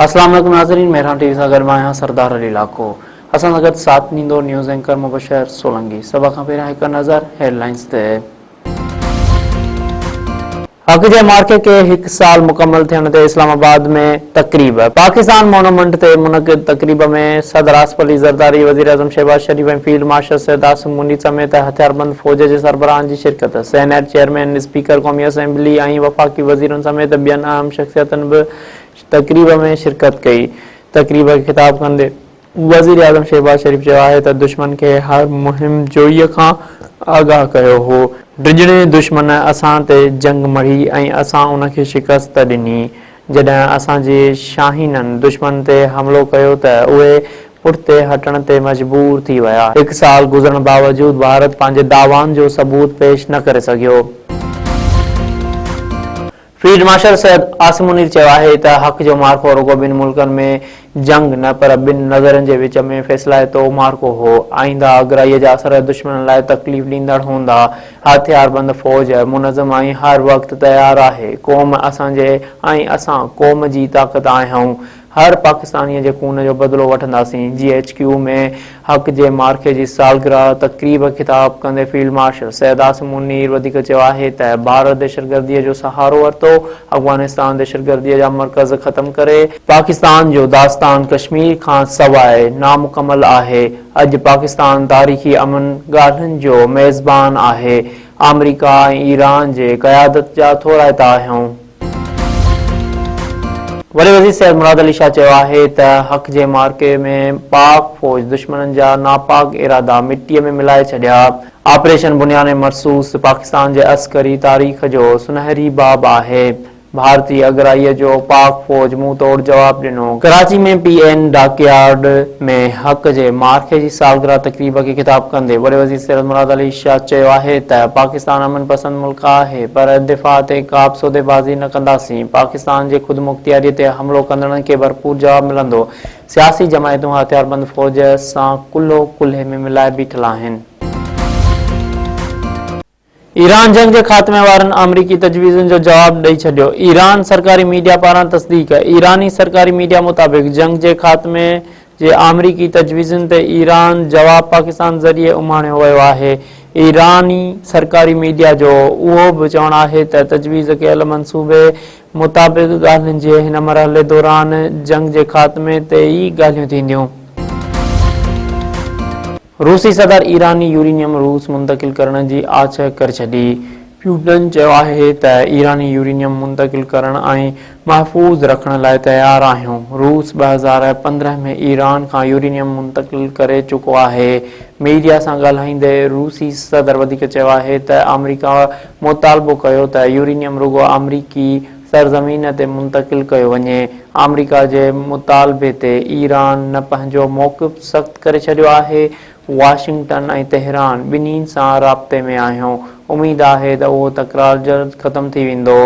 السلام عليڪم ناظرين مهران ٽي وي سان گڏ مان آهيان سردار علي لاکو اسان سان گڏ ساٿ ڏيندو نيوز اينڪر مبشر سولنگي سڀ کان پهريان هڪ نظر هيڊلائنز تي حق جي معرڪي کي هڪ سال مڪمل ٿيڻ تي اسلام آباد ۾ تقريب، پاڪستان مونومنٽ تي منعقد تقريب ۾ صدر آصف علي زرداري، وزيراعظم شهباز شريف ۽ فيلڊ مارشل سيد عاصم منير سميت هٿياربند فوج جي سربراهن جي شرڪت، سينيٽ چيئرمين، اسپيڪر قومي اسيمبلي ۽ وفاقي وزيرن سميت ٻين اهم شخصيتن به تقريب ۾ شرڪت ڪئي، تقريب کي خطاب ڪندي وزيراعظم شهباز شريف چيو آهي ته دشمن کي هر مهم جوئي کان آگاهه ڪيو هو، ڊڄڻي دشمن اسان تي جنگ مڙهي ۽ اسان ان کي شڪست ڏني، جڏهن اسان جي شاهينن دشمن تي حملو ڪيو ته اهي پٺتي هٽڻ تي مجبور ٿي ويا، هڪ سال گذرڻ باوجود ڀارت پنهنجي دعوائن جو ثبوت پيش نه ڪري سگهيو. فيلڊ مارشل سيد عاصم منير چيو آهي ته حق جو معرڪو رڳو ٻن ملڪن ۾ جنگ نه پر ٻن نظرين جي وچ ۾ فيصلائتو معرڪو هو، آئينده آگرائيء جا اثر دشمنن لاء تڪليف ڏيندڙ هوندا، هٿياربند فوج منظم ۽ هر وقت تيار آهي، قوم اسان جي ۽ اسان قوم جي طاقت آهيون، هر پاڪستانيء جي خون جو بدلو وٺنداسين، جي ايڇ ڪيو ۾ حق جي معرڪي جي سالگرهه تقريب خطاب ڪندي فيلڊ مارشل سيد عاصم منير وڌيڪ چيو آهي ته ڀارت دهشتگرديء جو سهارو ورتو، افغانستان دهشتگرديء جا مرڪز ختم ڪري، پاڪستان جو داستان ڪشمير کان سواء نامڪمل آهي، اڄ پاڪستان تاريخي امن ڳالهين جو ميزبان آهي، آمريڪا ۽ ايران جي قيادت جا ٿورائتا آهيون. وڏي وزير سيد مراد علي شاهه چيو آهي ته حق جي معرڪي ۾ پاڪ فوج دشمنن جا ناپاڪ ارادا مٽيء ۾ ملائي ڇڏيا، آپريشن بنيان مرصوص پاڪستان جي عسڪري تاريخ جو سنهري باب آهي، ڀارتي اڳرائيء جو پاڪ فوج منهن توڙ جواب ڏنو. Karachi ۾ P N dockyard. ۾ حق جي معرڪي جي سالگرهه تقريب کي خطاب ڪندي وڏي وزير سيد مراد علي شاهه چيو آهي ته پاڪستان امن پسند ملڪ آهي پر دفاع تي ڪابه سوديبازي نه ڪنداسين، پاڪستان جي خودمختياري تي حملو ڪندڙن کي ڀرپور جواب ملندو، سياسي جماعتون هٿياربند فوج سان ڪلهو ڪلهي ۾ ملائي بيٺل آهن. ايران جنگ جي خاتمي وارن آمريڪي تجويزن جو جواب ڏئي ڇڏيو، ايران سرڪاري ميڊيا پاران تصديق ايراني سرڪاري ميڊيا مطابق جنگ جي خاتمي جي آمريڪي تجويزن تي ايران جواب پاڪستان ذريعي اماڻيو ويو آهي، ايراني سرڪاري ميڊيا جو اهو به چوڻ آهي ته تجويز ڪيل منصوبي مطابق ڳالهين جي هن مرحلي دوران جنگ جي خاتمي تي ئي ڳالهيون ٿينديون. روسي صدر ايراني يورينيم روس منتقل ڪرڻ جي آڇ ڪري ڇڏي. پيوٽن چيو آهي ته ايراني يورينيم منتقل ڪرڻ ۽ محفوظ رکڻ لاء تيار آهيون. روس ٻه هزار پندرهن ۾ ايران کان يورينيم منتقل ڪري چڪو آهي. ميڊيا سان ڳالهائيندي روسي صدر وڌيڪ چيو آهي ته آمريڪا مطالبو ڪيو ته يورينيم رڳو آمريڪي سرزمين تي منتقل ڪيو وڃي. آمريڪا جي مطالبي تي ايران نه پنهنجو موقف سخت ڪري ڇڏيو آهي، واشنگٽن ۽ تهران ٻنهي سان رابطي ۾ آهيون، اميد آهي ته اهو تڪرار جلد ختم ٿي ويندو.